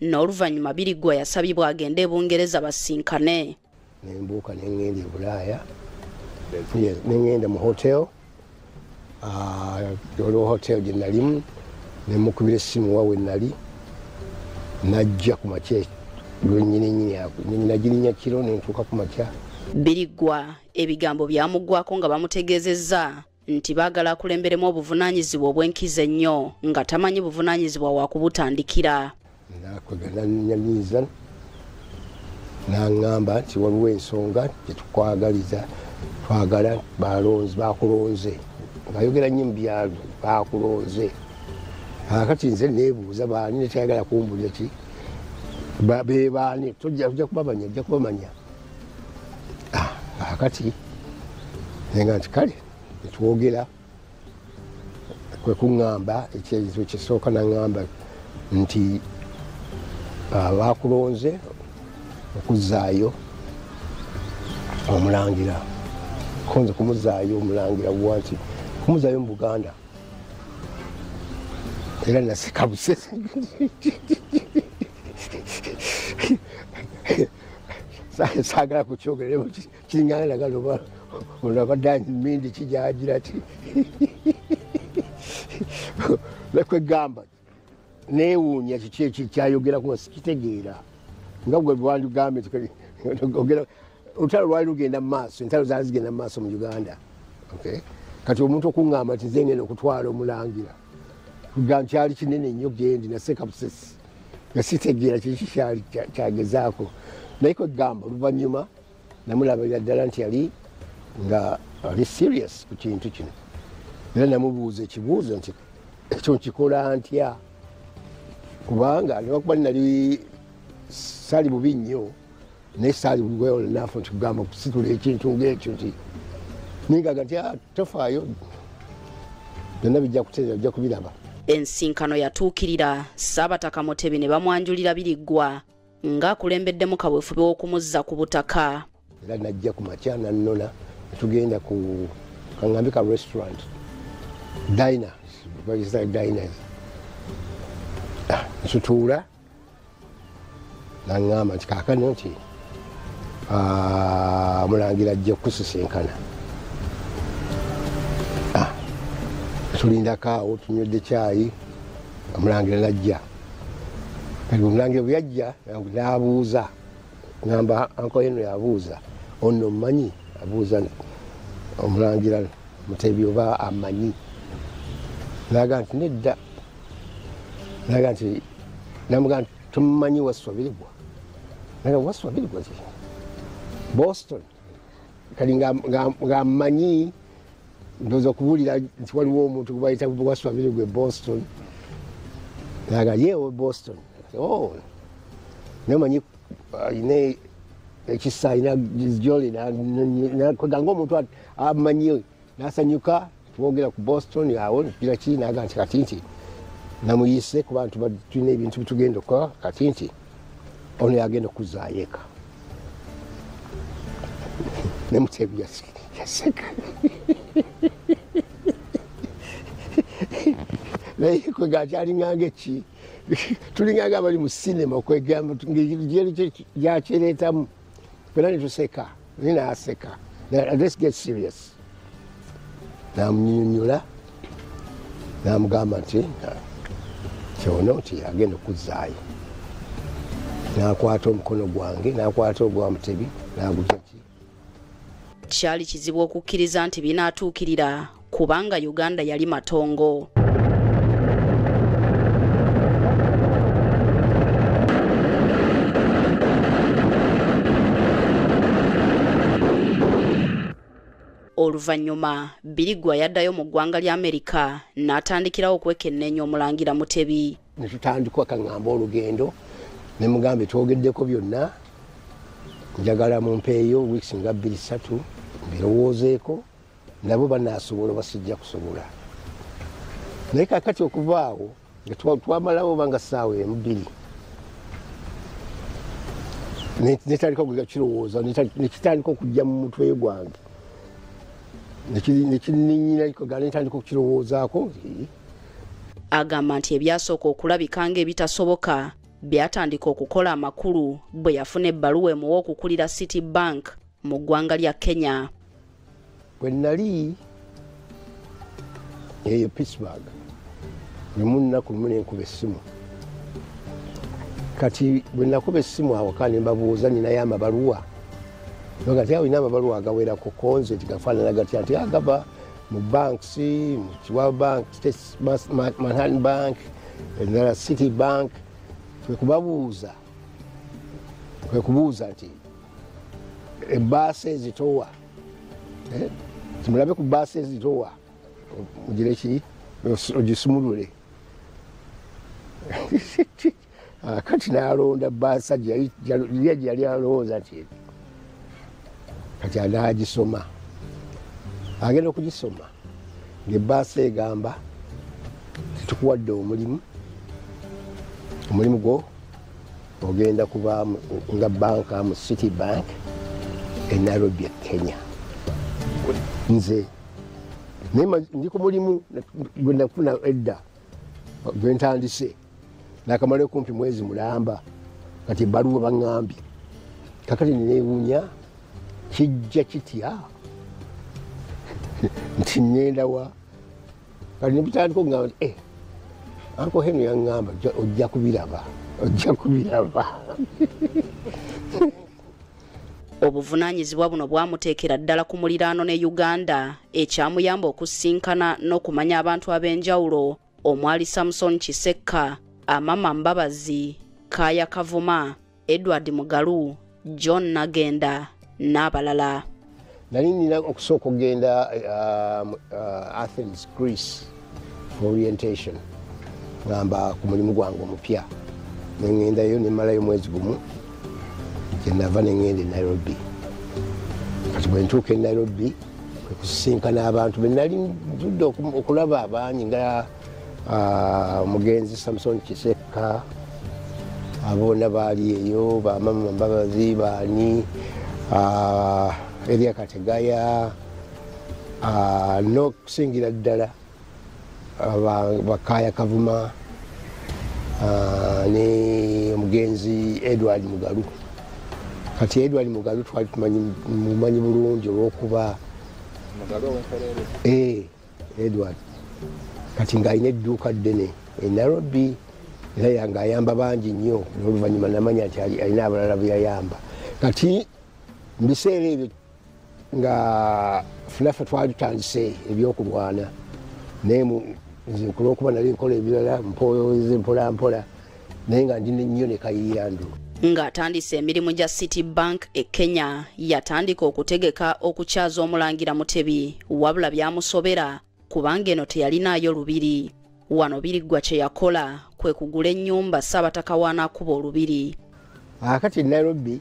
n'oluvannyuma biriggwa yasabibwa agende e bungereza basinkane nembuuka nengenda ebulaaya nengenda mu hotel ah, olwo hotel gye nalimu nemukubira essimu wawe nali najja ku makya lwenyininyinagirinya kiro nentuuka ku makya biriggwa ebigambo byamuggwako nga bamutegeezezza nti baagala akulemberemu obuvunaanyizibwa obw'enkizo ennyo nga tamanyi buvunaanyizibwa wa kubutandikira nakwegananenyamiiza naŋŋamba nti waliwo ensonga gyetukwagaliza twagala balonzi bakulonze ngayogera nnyo mu byalo bakulonze akati nze nebuuza baani netayagala kumbulira ki bebaani tojja kubamanya ojja kubamanya kakati ah, nenga nti kale netwogera kwekuŋamba ekyezo kisooka naŋamba nti ah, bakulonze okuzaayo omulangira konze kumuzaayo omulangira wa nti kumuzaayo mu buganda era nasikabuse sagala kukyogeremu kiringana nagala oba ono abadde mindi kijagira ti lekwegamba newuunya kiki eki kyayogerako sikitegeera nga gwe lwandigambe ogera olutalo lwali lugenda mu maaso entalo zaali zigenda mu maaso mu uganda kati omuntu okuŋŋamba nti zengenda okutwala omulangira kugan kyali kinene nnyo gendi naseka busesi nga sitegeera kiki kyali kyagezaako naye kwegamba oluvannyuma namulabirira ddala nti yali nga ali serious ku kintu kino era namubuuza ekibuuzo nti ekyo nkikola ntya kubanga newakuba nali sali bubi nnyo naye saali wewolnafu nti kugamba okusitula ekintu ngaekyo nti ningaga nti ah, tofaayo byonna bijja kuteera bijja kubiraba ensinkano yatuukirira saabataka mutebi ne bamwanjulira biriggwa ng'akulembeddemu kaweefube w'okumuzza ku butaka era najja ku makya nannona netugenda ku kangambi ka restaurant diners diners ah, nsutuula naŋŋamba nti kaakano nti ah, omulangira ajja okukusisinkana ah, tulindako awo tunywedde kyayi omulangira najja kati omulangira bwe yajja n'abuuza ŋamba anko heno yabuuza ono omumanyi abuuza omulangira mutebi oba amanyi naga nti nedda naga nti namuga nti tomumanyi waswabirigwa naga waswabirigwa ki boston kati nga mmanyi ndoza okubuulira nti waliwo omuntu gwebayita waswabirigwa e boston naga yewe boston oh. naye manyi ayina uh, ekisa ayina jolina kwegange omuntu amanyi nasanyuka twogera ku boston awo gira ki naga nti kati nti namuyise ku bantu tulina ebintu bitugenda okukola kati nti ono yagenda okuzaayo eka nemutebi yaseka naye kwega akyalinganga eki tulinganga abali mu sinema kwegamba ngeri gyakireetamu fena netuseka naye naaseka let's get serious namunyonyola namugamba nti kyono nti agenda okuzaayo nakwata omukono gwange nakwata ogwa mutebi naguzaki kyali kizibu okukkiriza nti binaatuukirira kubanga uganda yali matongo oluvannyuma birigwa yaddayo mu ggwanga lya amerika n'atandikirawo okwekenneenya omulangira mutebi ne tutandikwa kaŋŋamba olugendo ne mugambe twogeddeko byonna njagala mumpeeyo wiisi nga bbiri ssatu mbirowoozeeko nabo banasobola oba sijja kusobola naye kakati okuvaawo twamalawo oba nga saawa embiri netandika okuga kirowooza nekitandika okujja mu mutwe gwange nekininyinanetandika okukirowoozaako agamba nti ebyasooka okulabika nga ebitasoboka byatandika okukola amakulu bwe yafuna ebbaluwa emuwa okukulira city bank mu ggwanga lya kenya bwe nnali eyo pittsburg lumu nnaku lumu nenkuba essimu kati bwe nakuba essimu awaka ne mbabuuza ninayo amabaluwa nogati awo ina amabaluwa agawerako konze tigafaanana gatya nti agava ah, mu banks mu kiwa bank manhattan bank endala city bank kwekubabuuza kwekubuuza nti ebaasa ezitowa eh, kimulabe ku baasa ezitowa ogireki ogisumulule ah, kati nalonda baasa gyeyali alowooza ti kati anagisoma agenda okugisoma ngebaasa egamba tetukuwadde omulimu omulimu gwo ogenda kuba nga banka mu city bank e nairobi e kenya nze ndi ku mulimu gwenafuna edda gwentandise nakamala okumpi mwezi mulamba kati ebaluwa baŋambye kakati newunya kijja kitya nti ŋendawa kati nebitandika okugamba nti eh, anko henu yaŋŋamba ojja kubiraba ojja kubiraba obuvunaanyizibwa buno bwamuteekera ddala ku muliraano ne uganda ekyamuyamba okusinkana n'okumanya abantu ab'enjawulo omwali samson kisekka amama mbabazi kaaya kavuma edward mugalu john nagenda n'abalala nali nina okusooka okugenda um, uh, athens greece for orientation ngamba ku mulimu gwange omupya nengendayo nemalayo mwezi gumu kyenava nengenda e nairobi kati bwentuuka e nairobi kwekusisinkana abantu benali nzudde okulaba abangi nga Ah, omugenzi samson kisekka aboona baali eyo bamama mbabazi baani ah, eria kategaya ah, n'okusingira ddala bakaya kavuma ne omugenzi edward mugalu kati edward mugalu twali tumanyi bulungi olwokuba eh. edward kati ng'alina edduuka ddene e nairobi era yanga ayamba bangi nnyo noluvannyuma namanya nti alina abalala beyayamba kati mubiseera ebyo nga funafe twali tutandise ebyokulwana naye nze kulwokuba nali nkola ebirala mpoze mpolampola naye nga ndi nnyo ne kayiyandu ng'atandise emirimu gya city bank e kenya yatandika okutegeka okukyaza omulangira mutebi wabula byamusobera kubanga eno teyalinaayo lubiri wano biriggwa kye yakola kwe kugula ennyumba ssaabataka waanaakuba olubiri akati ah, nairobi